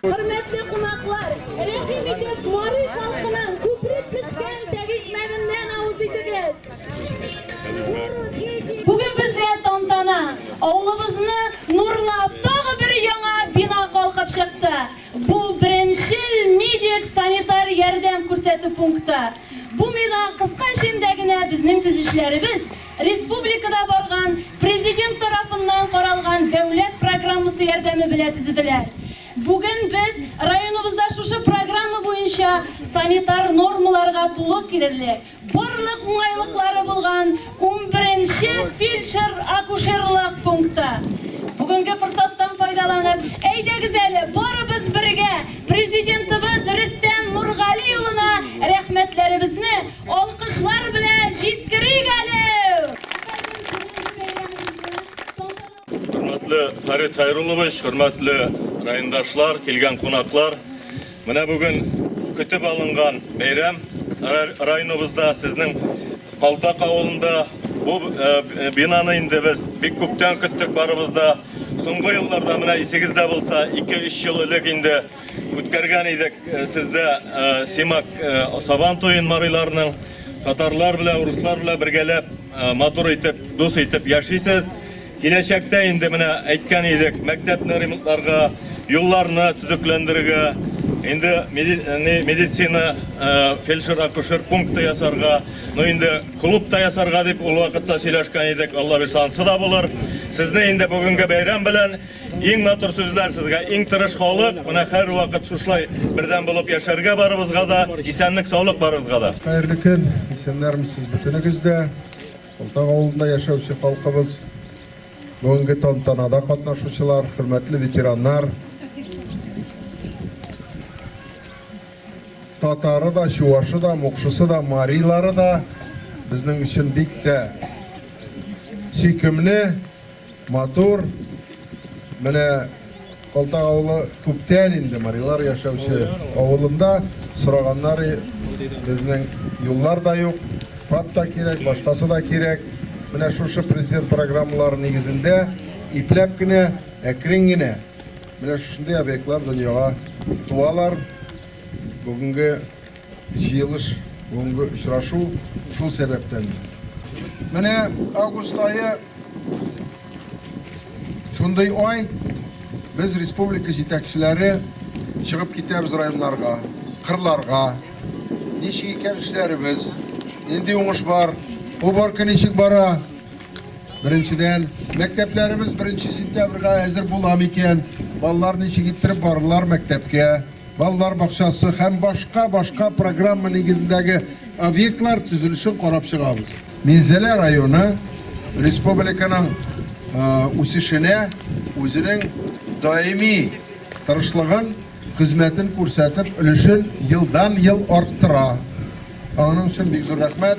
Хөрмәтле кунаклар, рәхим итеп Мари халкының күпрек пешкән тәгизмәгеннән авыз итегез. Бүген бездә тантана. Авылыбызны нурлап тагы бер яңа бина калкып чыкты. Бу беренчел медик санитар ярдәм күрсәтү пункты. Бу мина кыска эчендә генә безнең төзүчеләребез Республикада барган Президент тарафыннан каралган дәүләт программасы ярдәме белә төзеделә. Бүген без районыбызда шушы программа буенча санитар нормаларга тулы килерлек, барлык уңайлыклары булган унберенче фельдшер-акушерлык пункты. Бүгенге форсаттан файдаланып, әйдәгез әле, барыбыз бергә Президентыбыз Рөстәм Нургали улына рәхмәтләребезне, Алкышлар белән җиткерик әле! Хөрмәтле Фәрит Хайруллович, хөрмәтле райондашлар, килгән кунаклар, менә бүген көтеп алынган бәйрәм районыбызда сезнең Калтак авылында бу э, бинаны инде без бик күптән көттек барыбызда. Соңгы елларда менә исегездә булса 2-3 ел элек инде Үткәргән идек э, сездә э, Симак э, Сабан туен марыйларның татарлар белән, руслар белән бергәләп матур итеп, дус итеп яшисез. Киләчәктә инде менә әйткән идек, мәктәпне ремонтларга, юлларны төзекләндерергә, инде медицина фельдшер-акушер пункты ясарга, ну инде клуб та ясарга дип ул вакытта сөйләшкән идек. Алла бирса, ансы да булыр. Сезне инде бүгенге бәйрәм белән Иң матур сүзләр сезгә, иң тырыш халык. Менә һәр вакыт шушлай бердәм булып яшәргә барыбызга да, исәнлек, саулык барыбызга да. Хәерле көн, исәннәрмесез бөтенегез дә. Олтак авылында яшәүче халкыбыз, бүгенге тантанада катнашучылар, хөрмәтле ветераннар. Татары да, чувашы да, мукшысы да, марилары да безнең өчен бик тә сөйкемле. Матур. Менә Калтак авылы күптән инде марилар яшәүче авылында сораганнары безнең юллар да юк, фат та кирәк, башкасы да кирәк. Менә шушы президент программалары нигезендә ипләп кенә, әкрен генә менә шушындый объектлар дөньяга туалар. Бүгенге Җыелыш, бүгенге очрашу шул сәбәптән. Менә август ае шундый ай, без республика җитәкчеләре чыгып китәбез районнарга, кырларга. Ничек икән эшләребез, нинди уңыш бар, уборка ничек бара? Беренчедән, мәктәпләребез беренче сентябрьгә әзер була микән? Балалар ничек иттереп барырлар мәктәпкә? балалар бакчасы һәм башка-башка программа нигезендәге объектлар төзелешен карап чыгабыз. Минзәлә районы республиканың үсешенә үзенең даими тырышлыгын, хезмәтен күрсәтеп, өлешен елдан-ел арттыра. Аның өчен бик зур рәхмәт.